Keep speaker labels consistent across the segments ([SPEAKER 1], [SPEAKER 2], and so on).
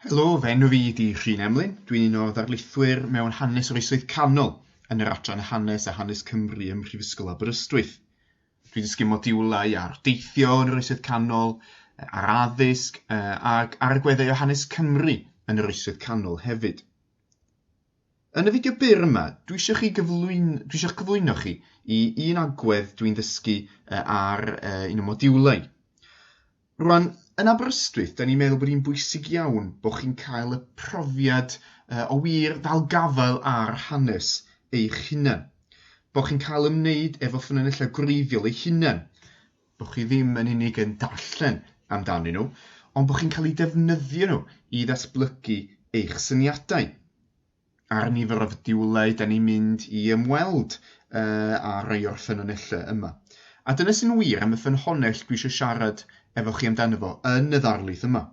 [SPEAKER 1] Helo, fy enw fi ydi Rhun Emlyn. Dwi'n un o ddarlithwyr mewn hanes yr oesoedd canol yn yr adran hanes a hanes Cymru ym Mhrifysgol Aberystwyth. Dwi'n dysgu modiwlau ar deithio yn yr oesoedd canol, ar addysg ac ar y gweddau o hanes Cymru yn yr oesoedd canol hefyd. Yn y fideo byr yma, dwi eisiau chi gyflwyn, dwi eisiau cyflwyno chi i un agwedd dwi'n ddysgu ar un o modiwlau. Rwan, yn Aberystwyth, da ni'n meddwl bod hi'n bwysig iawn bod chi'n cael y profiad uh, o wir ddal gafael ar hanes eich hunain. Bod chi'n cael ymwneud efo ffynonellau gwreiddiol eich hunain. Bod chi ddim yn unig yn darllen amdanyn nhw, ond bod chi'n cael eu defnyddio nhw i ddatblygu eich syniadau. ar nifer o fediwlau da ni'n mynd i ymweld uh, a rhai o'r ffynonellau yma. A dyna sy'n wir am y ffynhonell dwi eisiau siarad efo chi amdano fo yn y ddarlith yma,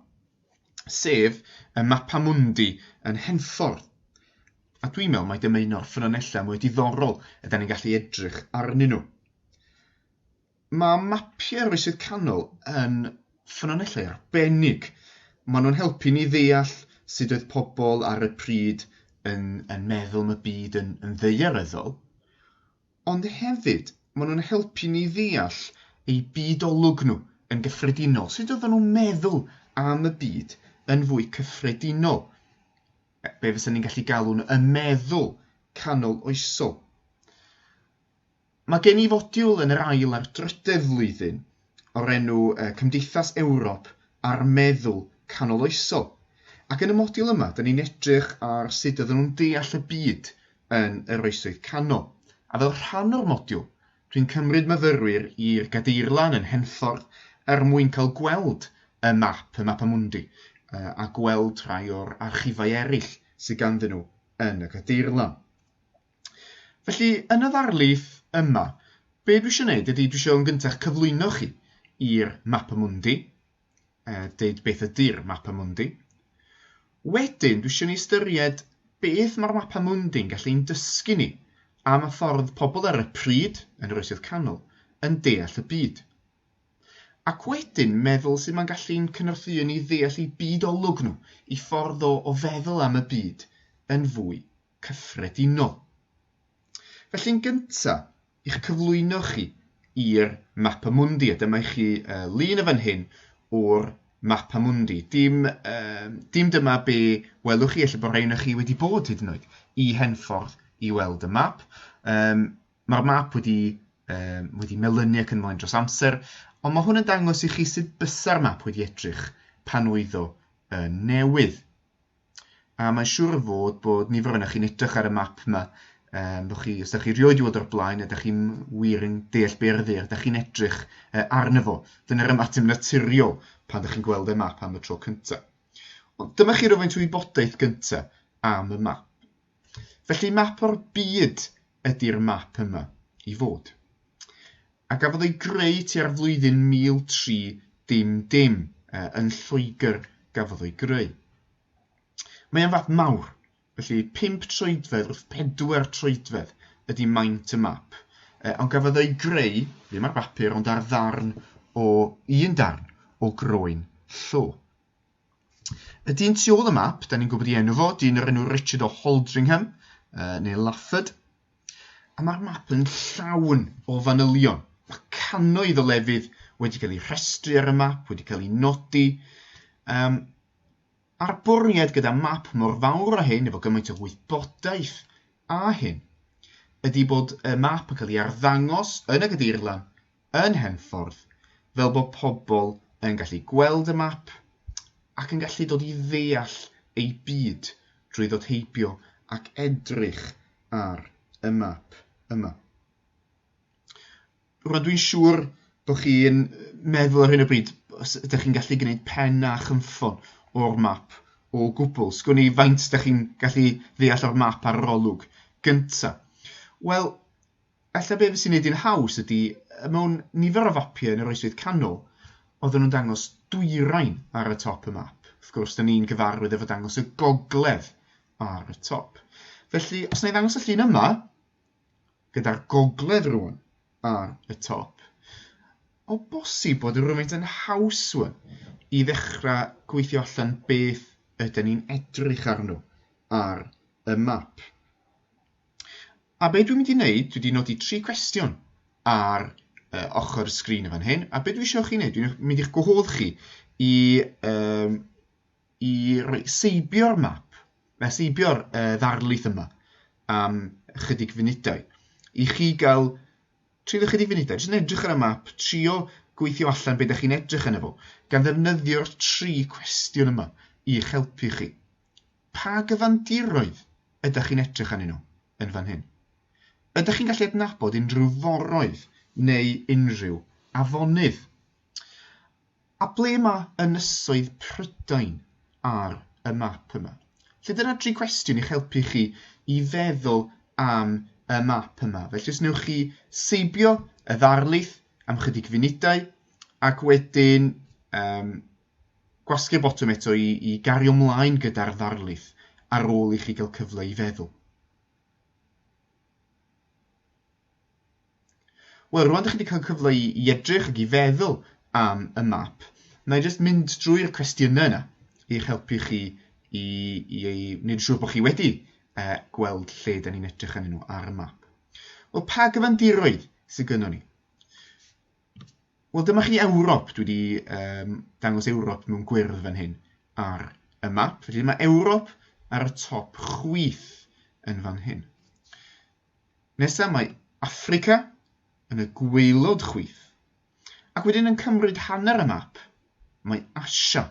[SPEAKER 1] sef y mapa mundi yn henffordd. A dwi'n meddwl mai dyma un o'r ffynonellau mwy diddorol ydy ni'n gallu edrych arnyn nhw. Mae mapiau Oesoedd Canol yn ffynonellau arbennig. Maen nhw'n helpu ni ddeall sut oedd pobl ar y pryd yn, yn meddwl am y byd yn, yn ddeiaryddol, ond hefyd maen nhw'n helpu ni ddeall eu byd olwg nhw yn gyffredinol, sut oedden nhw'n meddwl am y byd yn fwy cyffredinol, be fysa ni'n gallu galw'n y meddwl canol oesol. Mae gen i fodiwl yn yr ail a'r drydedd flwyddyn o'r enw Cymdeithas Ewrop a'r Meddwl Canoloesol, ac yn y modiwl yma dyn ni'n edrych ar sut oedden nhw'n deall y byd yn yr Oesoedd Canol. A fel rhan o'r modiwl, dwi'n cymryd myfyrwyr i'r Gadeirlan yn Henffordd er mwyn cael gweld y map, y Mappa Mundi, a gweld rhai o'r archifau eraill sydd ganddyn nhw yn y Gadeirlan. Felly, yn y ddarlith yma, be dwi eisiau gwneud ydy dwi eisiau yn gyntaf cyflwyno chi i'r Mapa Mundi, e, deud beth ydy'r Mapa Mundi. Wedyn, dwi eisiau ni ystyried beth mae'r Mapa Mundi'n gallu ein dysgu ni am y ffordd pobl ar y pryd yn yr Oesoedd Canol yn deall y byd. Ac wedyn meddwl sy'n ma'n gallu'n cynorthwyo ni ddeall i byd olwg nhw, i ffordd o, o feddwl am y byd yn fwy cyffredinol. Felly'n gyntaf, i'ch cyflwyno chi i'r Mapa Mundi, a dyma i chi uh, lun y fan hyn o'r Mapa Mundi. Dim, uh, dim dyma be welwch chi, efallai bod rhain chi wedi bod hyd yn oed i Henffordd i weld y map. Um, Mae'r map wedi, um, wedi melynu ac yn mlaen dros amser, ond mae hwn yn dangos i chi sut bysa'r map wedi edrych pan oedd o uh, newydd. A mae'n siŵr o fod bod nifer o'na chi'n edrych ar y map yma, um, bod chi, os da chi rioed i weld o'r blaen, ydych chi'n wir yn deall be ar ddeir, ydych chi'n edrych uh, arno fo. Dyna'r ymateb naturiol pan ydych chi'n gweld y map am y tro cyntaf. Ond dyma chi rhywfaint o wybodaeth gyntaf am y map. Felly map o'r byd ydy'r map yma i fod. A gafodd ei greu tua'r flwyddyn 1300, uh, yn Lloegr gafodd ei greu. Mae'n fap mawr, felly 5 troedfedd wrth 4 troedfedd ydy maint y map, uh, ond gafodd ei greu, ddim ar bapur, ond ar ddarn o un darn o groen llo. Y dyn tu ôl y map, da ni'n gwybod i enw fo, dyn o'r enw Richard o Holdringham, uh, neu Lafford. A mae'r map yn llawn o fanylion. Mae cannoedd o lefydd wedi cael eu rhestru ar y map, wedi cael eu nodi. Um, a'r bwriad gyda map mor fawr a hyn, efo gymaint o wybodaeth a hyn, ydy bod y map yn cael ei arddangos yn y gadeirlan yn Henffordd fel bod pobl yn gallu gweld y map ac yn gallu dod i ddeall eu byd drwy ddod heibio ac edrych ar y map yma. Rydw i'n siŵr bod chi'n meddwl ar hyn o bryd, os ydych chi'n gallu gwneud pen a chymffon o'r map o gwbl, sgwn i faint ydych chi'n gallu ddeall o'r map ar yr olwg gyntaf. Wel, Ella be sy'n neud hi'n haws ydi, mewn nifer o fapiau yn yr Oesoedd Canol, oedden nhw'n dangos dwyrain ar y top y map. Wrth gwrs, da ni'n gyfarwydd efo dangos y gogledd ar y top. Felly, os na i ddangos y llun yma, gyda'r gogledd rwan ar y top, o bosib bod yr rhywfaint yn haws wan i ddechrau gweithio allan beth ydyn ni'n edrych arno ar y map. A be dwi'n mynd i wneud, dwi wedi nodi tri cwestiwn ar uh, ochr y sgrin yn fan hyn, a be dwi eisiau chi wneud, dwi'n mynd i'ch gwahodd chi i, um, i roi seibio'r map, na seibio'r uh, ddarlith yma am ychydig funudau, i chi gael trio ychydig funudau, jyst yn edrych ar y map, trio gweithio allan beth ydych chi'n edrych yn efo, gan ddefnyddio'r tri cwestiwn yma i'ch helpu chi. Pa gyfandiroedd ydych chi'n edrych arnyn nhw yn fan hyn? Ydych chi'n gallu adnabod unrhyw foroedd neu unrhyw afonydd? A ble mae ynysoedd Prydain ar y map yma? Felly dyna dri cwestiwn i'ch helpu chi i feddwl am y map yma. Felly os newch chi seibio y ddarlith am chydig funudau ac wedyn um, Gwasgu'r botwm eto i i gario mlaen gyda'r ddarlith ar ôl i chi gael cyfle i feddwl. Wel, rwan dych chi wedi cael cyfle i, i edrych ac i feddwl am y map. Na i jyst mynd drwy'r cwestiynau yna i'ch helpu chi i, i, i wneud siŵr bod chi wedi uh, gweld lle da ni'n edrych yn nhw ar y map. Wel, pa gyfandiroedd sydd gynnon ni? Wel dyma chi Ewrop, dwi wedi um, dangos Ewrop mewn gwyrdd fan hyn ar y map. Felly mae Ewrop ar y top chwith yn fan hyn. Nesaf mae Africa yn y gweilod chwith. Ac wedyn yn cymryd hanner y map, mae Asia.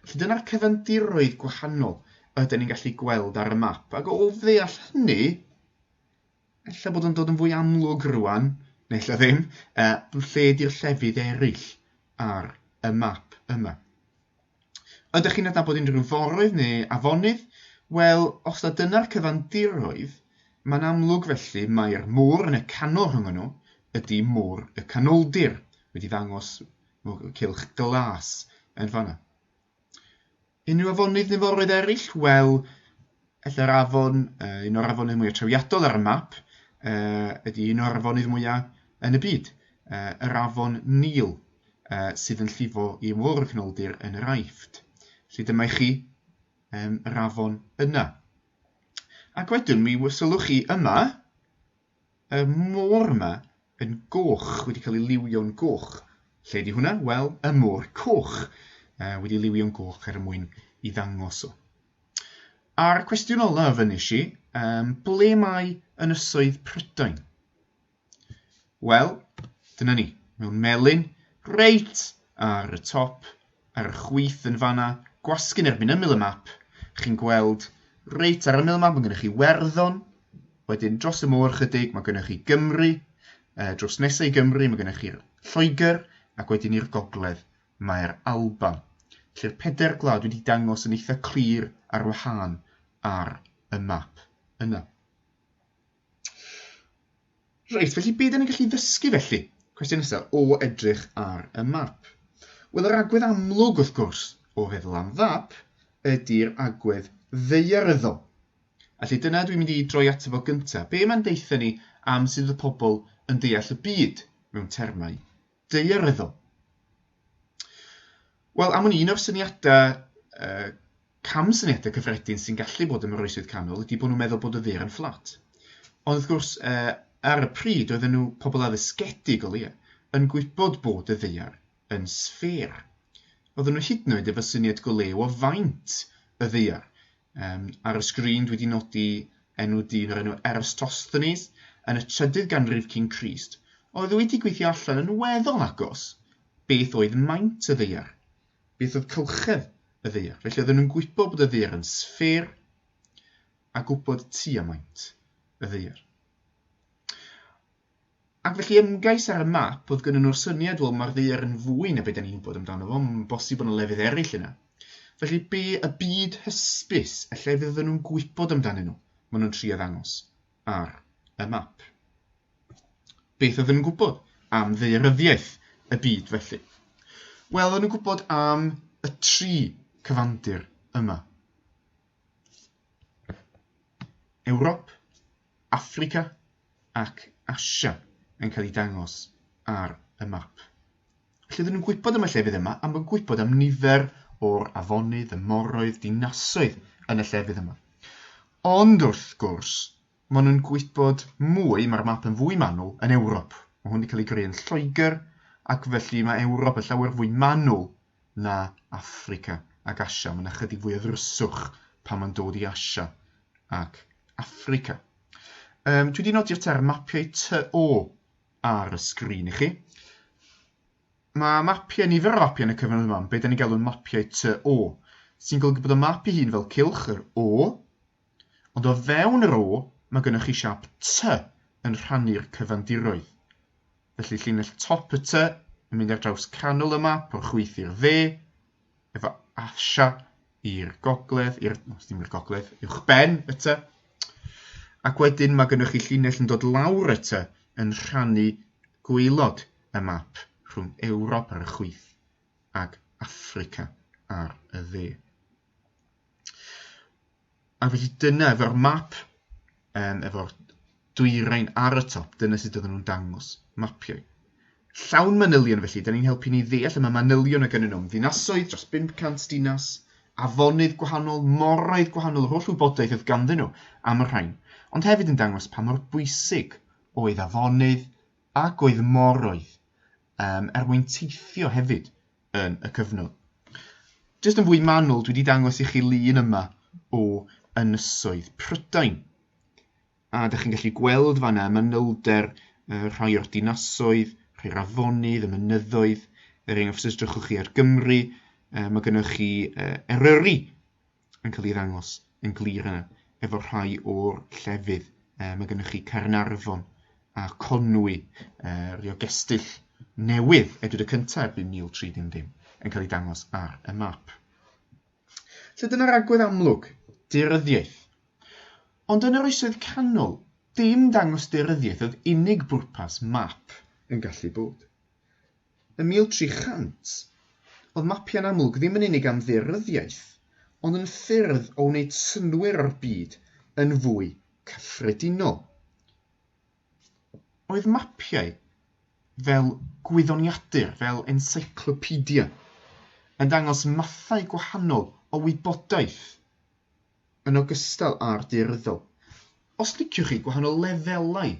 [SPEAKER 1] Felly dyna'r cyfandiroedd gwahanol ydyn ni'n gallu gweld ar y map. Ac o ddeall hynny, ella bod o'n dod yn fwy amlwg rwan, neu ella ddim, uh, lle di'r llefydd eraill ar y map yma. Ydych chi'n adnabod unrhyw foroedd neu afonydd? Wel, os da dyna'r cyfandiroedd, mae'n amlwg felly mae'r môr yn y canol rhwng nhw ydy môr y canoldir, wedi ddangos cilch glas yn fanna. Unrhyw afonydd neu foroedd eraill? Wel, ella'r afon, uh, un o'r afonydd mwyaf trawiadol ar y map, uh, ydy un o'r afonydd mwyaf yn y byd, uh, yr afon Nil, uh, sydd yn llifo i ymwrdd y canoldir yn yr Aifft. Felly dyma i chi um, yr afon yna. Ac wedyn, mi sylwch chi yma, Y môr yma yn goch, wedi cael ei liwio'n goch. Lle di hwnna? Wel, y môr coch. Uh, wedi liwio'n goch er mwyn i ddangos o. A'r cwestiwn olaf yn nes i, um, ble mae ynysoedd Prydain? Wel, dyna ni, mewn melyn, reit ar y top, Ar y chwith yn fan'na, gwasgu'n erbyn ymyl y map, chi'n gweld, reit ar ymyl y map, mae gennych chi Werddon, wedyn dros y môr chydig, mae gennych chi Gymru, uh, dros nesau i Gymru, mae gennych chi Lloegr, ac wedyn i'r gogledd, mae'r Alban. Felly'r peder gwlad wedi dangos yn eitha clir ar wahân ar y map yna. Reit, felly beth ni'n gallu ddysgu felly? Cwestiwn nesaf, o edrych ar y map. Wel, yr agwedd amlwg, wrth gwrs, o feddwl am fap, ydy'r agwedd ddeiaryddol. Felly dyna dwi'n mynd i droi ato fo gyntaf. Be mae'n deitha ni am sydd y pobl yn deall y byd mewn termau daearyddol. Wel, am wn un o'r syniadau, uh, cam syniadau cyffredin sy'n gallu bod yn oroesydd canol ydy bod nhw'n meddwl bod y ddur yn fflat. Ond wrth gwrs, uh, ar y pryd, oedden nhw pobl addysgedig o leia, yn gwybod bod y ddeiar yn sffêr. Oedden nhw hyd yn oed efo syniad go lew o faint y ddeiar, Um, ar y sgrin dwi wedi nodi enw dyn o'r enw Eratosthenes yn y trydydd ganrif cyn Crist, oedd wedi gweithio allan yn weddol agos beth oedd maint y ddeiar, beth oedd cylchedd y ddeiar. Felly oedden nhw'n gwybod bod y ddeiar yn sffêr a gwybod tua maint y ddeiar. Ac felly ymgais ar y map oedd gynnon nhw'r syniad, wel mae'r ddaear yn fwy na be da ni'n gwybod amdano fo, mae'n bosib bod yna lefydd eraill yna. Felly be y byd hysbys y llefydd oedden nhw'n gwybod amdanyn nhw, maen nhw'n trio ddangos ar y map. Beth oedden nhw'n gwybod am ddeiryddiaeth y byd felly? Wel, oedden nhw'n gwybod am y tri cyfandir yma. Ewrop, Affrica ac Asia yn cael eu dangos ar y map. Felly oedden nhw'n gwybod am y llefydd yma am yn gwybod am nifer o'r afonydd, y moroedd, dinasoedd yn y llefydd yma. Ond wrth gwrs, Maen nhw'n gwybod mwy, mae'r map yn fwy manwl yn Ewrop. Mae hwn wedi cael ei greu yn Lloegr ac felly mae Ewrop yn llawer fwy manwl na Affrica ac Asia. Mae'n ychydig fwy o ddryswch pan mae'n dod i Asia ac Affrica. Um, dwi wedi nodi'r term mapiau TO ar y sgrin i chi. Mae mapiau, nifer o mapiau yn y cyfnod yma, beth da ni'n galw'n mapiau TO, sy'n golygu bod y map i hun fel cilch yr O, Ond o fewn yr O mae gennych chi siap T yn rhannu'r cyfandiroedd. Felly llinell top y T yn mynd ar draws canol y map o'r chwith i'r dde, efo Asia i'r gogledd, i'r, no, ddim i'r gogledd, uwch ben y T. Ac wedyn mae gennych chi llinell yn dod lawr y T yn rhannu gweilod y map rhwng Ewrop ar y chwith ag Africa ar y dde. A felly dyna efo'r map, um, efo'r dwyrain ar y top, dyna sut oedden nhw'n dangos mapiau. Llawn manylion felly, da ni'n helpu ni ddeall y mae manylion o gynnu nhw'n ddinasoedd dros 500 dinas, afonydd gwahanol, moroedd gwahanol, yr holl wybodaeth oedd ganddyn nhw am y rhain, ond hefyd yn dangos pa mor bwysig oedd afonydd ac oedd moroedd um, er mwyn teithio hefyd yn y cyfnod. Jyst yn fwy manwl, dwi wedi dangos i chi lun yma o ynysoedd Prydain. A da chi'n gallu gweld fanna manylder uh, rhai o'r dinasoedd, rhai'r afonydd, y mynyddoedd, er enghraifft os edrychwch chi ar Gymru, uh, mae gennych chi uh, Eryri, yn cael ei ddangos yn glir yna efo rhai o'r llefydd. E, mae gennych chi Caernarfon a Conwy, e, rhyw gestyll newydd edwyd y cyntaf erbyn 1330 yn cael ei dangos ar y map. Felly dyna'r agwedd amlwg, deuryddiaeth. Ond yn yr oesoedd canol, dim dangos deuryddiaeth oedd unig bwrpas map yn gallu bod. Yn 1300, oedd mapiau'n amlwg ddim yn unig am ddearyddiaeth, ond yn ffyrdd o wneud synnwyr o'r byd yn fwy cyffredinol. Oedd mapiau fel gwyddoniadur, fel encyclopedia, yn dangos mathau gwahanol o wybodaeth. yn ogystal â'r daearyddol. Os liciwch chi gwahanol lefelau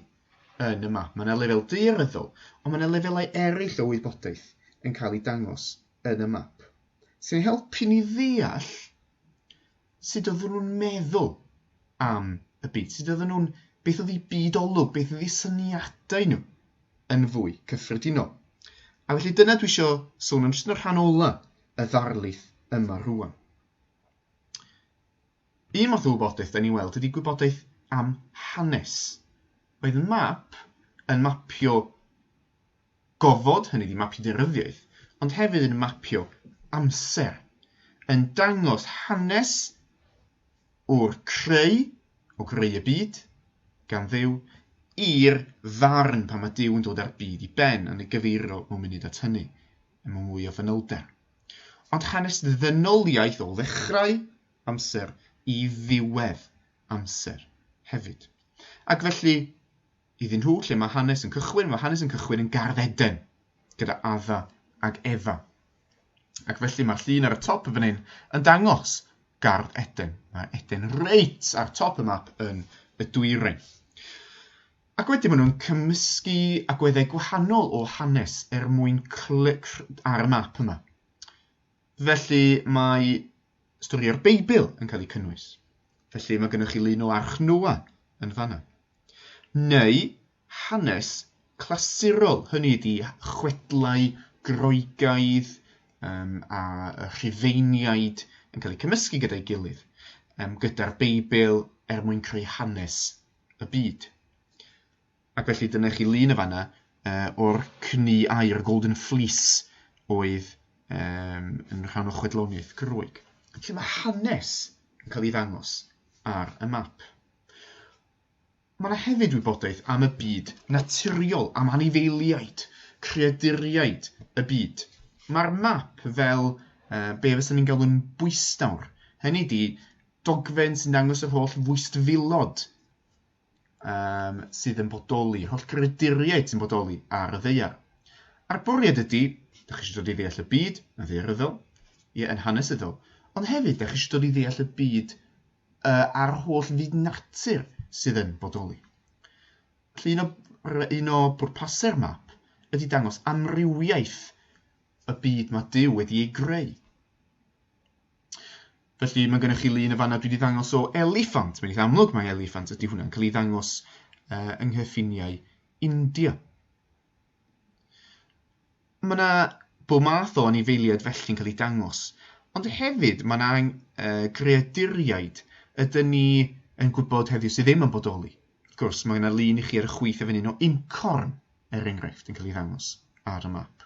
[SPEAKER 1] yn y map, mae yna lefel daearyddol, ond mae yna lefelau eraill o wybodaeth yn cael eu dangos yn y map, sy'n ein helpu ni ddeall sut oedden nhw'n meddwl am y byd, sut oedden nhw'n, beth oedd eu byd olwg, beth oedd eu syniadau nhw yn fwy cyffredinol. A felly dyna dwi eisiau sôn am jyst yn y rhan ola y ddarlith yma rwan. Un math o wybodaeth da ni'n weld ydy gwybodaeth am hanes. Oedd y map yn mapio gofod, hynny ydi mapio deunyddiaeth, ond hefyd yn mapio amser, yn dangos hanes o'r creu, o greu y byd, gan ddew, i'r ddarn pan mae Duw yn dod â'r byd i ben yn ei gyfeirio mewn munud at hynny, yn mewn mwy o fanylder. ond hanes ddynoliaeth o ddechrau amser i ddiwedd amser hefyd. Ac felly, iddyn nhw, lle mae hanes yn cychwyn, mae hanes yn cychwyn yn gardd Eden, gyda Adda ac Efa. Ac felly mae'r llun ar y top y fan hyn yn dangos gardd Eden. Mae Eden reit ar top y map yn y dwyrain. Ac wedyn maen nhw'n cymysgu agweddau gwahanol o hanes er mwyn clic ar y map yma. Felly mae stori o'r Beibl yn cael ei cynnwys. Felly mae gennych chi lun o Arch Noa yn fanna. Neu hanes clasurol, hynny ydi chwedlau Groegaidd um, a rhufeiniaid yn cael eu cymysgu gyda'i gilydd, um, gyda'r Beibl er mwyn creu hanes y byd. Ac felly dyna chi lun y fanna uh, o'r cni air, y golden fleece, oedd um, yn rhan o chwedloniaeth Groeg. Felly mae hanes yn cael ei ddangos ar y map. Mae yna hefyd wybodaeth am y byd naturiol, am anifeiliaid, creaduriaid y byd. Mae'r map fel uh, be fysyn ni'n galw'n bwystawr. Hynny di, dogfen sy'n dangos yr holl fwystfilod um, sydd yn bodoli, yr holl grediriaid sy'n bodoli ar y ddeiar. A'r bwriad ydy, da chi eisiau dod i ddeall y byd yn ddeiaryddol, ie, yn hanesyddol, ond hefyd da chi eisiau dod i ddeall y byd uh, a'r holl fyd natur sydd yn bodoli. Felly un o, un o bwrpasau'r map ydy dangos amrywiaeth y byd mae Dyw wedi ei greu. Felly mae gennych chi lun y fanna dwi wedi ddangos o eliffant. Mae'n eitha amlwg mae eliffant ydy hwnna'n cael ei ddangos uh, yng nghyffiniau India. Mae yna bob math o anifeiliaid felly'n cael ei dangos, ond hefyd mae yna uh, greaduriaid ydyn ni yn gwybod heddiw sydd ddim yn bodoli. Wrth gwrs, mae yna lun i chi ar y chwith y fan o incorn, er enghraifft, yn cael ei ddangos ar y map.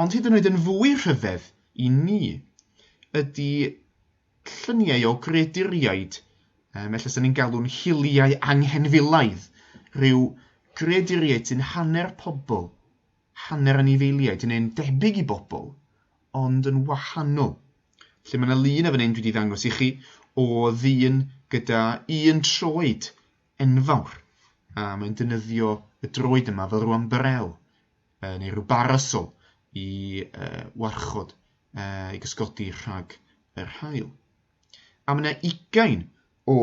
[SPEAKER 1] Ond hyd yn oed yn fwy rhyfedd i ni ydi lluniau o greaduriaid, um, ella sy'n ni'n galw'n hiliau anghenfilaidd, rhyw greaduriaid sy'n hanner pobl, hanner anifeiliaid, neu'n debyg i bobl, ond yn wahanol. Lle mae yna lun o fan hyn dwi wedi ddangos i chi o ddyn gyda un troed enfawr, a mae'n dynyddio y droed yma fel rwan brel uh, neu rhyw barasol i uh, warchod uh, i gysgodi rhag yr hael. A mae yna ugain o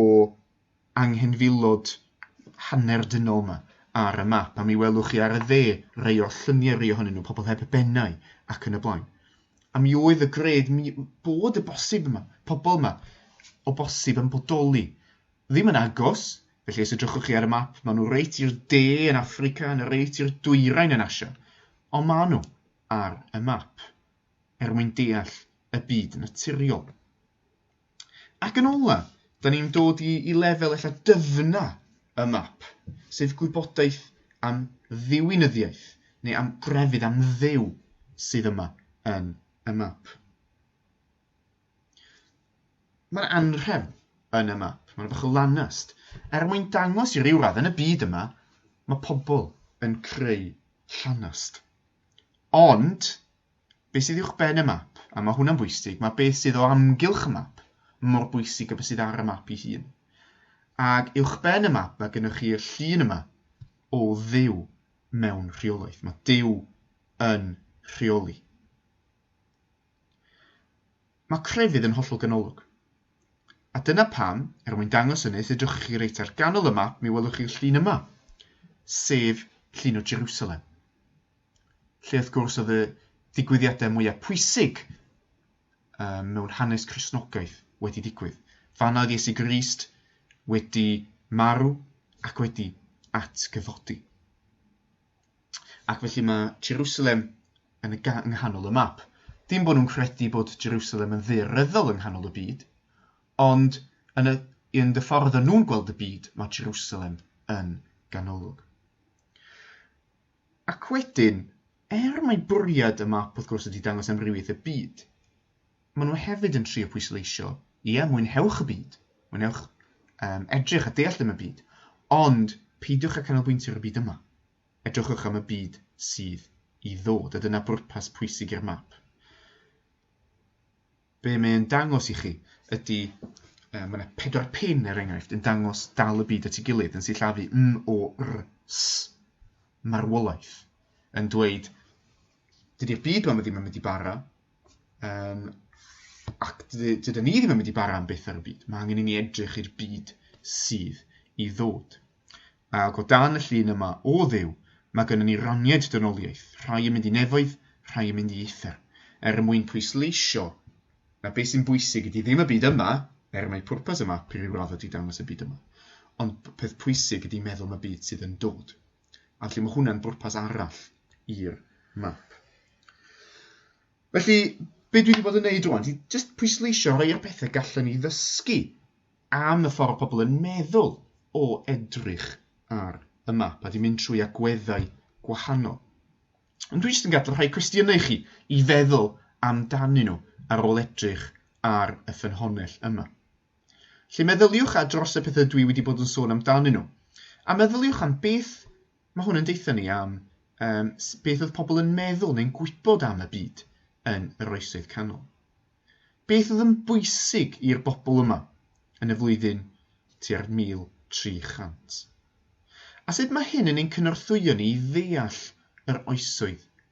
[SPEAKER 1] anghenfilod hanner dynol yma ar y map, a mi welwch chi ar y dde rei o'r lluniau rei ohonyn nhw, pobl heb bennau ac yn y blaen. A mi oedd y gred mi bod y bosib yma, pobl yma, o bosib yn bodoli. Ddim yn agos, Felly os edrychwch chi ar y map, maen nhw reit i'r de yn Affrica, yn y reit i'r dwyrain yn Asia. Ond maen nhw ar y map, er mwyn deall y byd naturiol. Ac yn ola, da ni'n dod i, i lefel ella dyfna y map, sef gwybodaeth am ddiwinyddiaeth, neu am grefydd, am ddew sydd yma yn y map. Mae'r anrhefn yn y map, mae'n bach o lanast, er mwyn dangos i ryw radd yn y byd yma, mae pobl yn creu llanast. Ond, beth sydd uwch ben y map, a mae hwnna'n bwysig, mae beth sydd o amgylch y map mor bwysig y beth sydd ar y map i hun. Ac uwch ben y map mae gennych chi'r llun yma o ddew mewn rheolaeth. Mae dew yn rheoli. Mae crefydd yn hollol ganolog. A dyna pam, er mwyn dangos hynny, os edrychwch chi reit ar ganol y map, mi welwch chi'r llun yma, sef llun o Jerusalem. Lle wrth gwrs oedd y digwyddiadau mwyaf pwysig um, mewn hanes Cresnogaeth wedi digwydd. Fanna oedd Iesu Grist wedi marw ac wedi atgyfodi. Ac felly mae Jerusalem yn y ga- yng nghanol y map. Dim bod nhw'n credu bod Jerusalem yn ddaearyddol yng nghanol y byd, ond yn y, yn y ffordd yn nhw'n gweld y byd, mae Jerusalem yn ganolog. Ac wedyn, er mae bwriad y map wrth gwrs ydy dangos amrywiaeth y byd, maen nhw hefyd yn trio pwysleisio, ie, mwynhewch y byd, mwynhewch um, edrych a deall am y byd, ond peidiwch â canolbwyntio ar y byd yma. Edrychwch am y byd sydd i ddod, a dyna bwrpas pwysig i'r map. Be mae'n dangos i chi ydy um, mae yna pedwar pin er enghraifft yn dangos dal y byd at ei gilydd yn sillafu m o r s marwolaeth yn dweud dydy'r byd yma ddim yn mynd i bara Um, ac dydyn ni ddim yn mynd i bara am beth ar y byd. Mae angen i ni edrych i'r byd sydd i ddod. Ac o dan y llun yma o ddew, mae gennym ni raniaid dynoliaeth, rhai yn mynd i nefoedd, rhai yn mynd i eithr, er y mwyn pwysleisio na beth sy'n bwysig ydy ddim y byd yma, er mae pwrpas y map i ryw radd ydy dangos y byd yma, ond peth pwysig ydy meddwl am y byd sydd yn dod. A felly mae hwnna'n bwrpas arall i'r map. Felly, be dwi wedi bod yn neud rwan, di just pwysleisio rhai o'r pethau gallen ni ddysgu am y ffordd pobl yn meddwl o edrych ar y map a di mynd trwy agweddau gwahanol. Ond dwi jyst yn gadw rhai cwestiynau i chi i feddwl amdanyn nhw ar ôl edrych ar y ffynhonnell yma. Felly meddyliwch ar dros y pethau dwi wedi bod yn sôn amdanyn nhw. A meddyliwch am beth mae hwn yn deutha ni am um, beth oedd pobl yn meddwl neu'n gwybod am y byd yn yr oesoedd canol. Beth oedd yn bwysig i'r bobl yma yn y flwyddyn tua'r 1300? A sut mae hyn yn ein cynorthwyo ni i ddeall yr oesoedd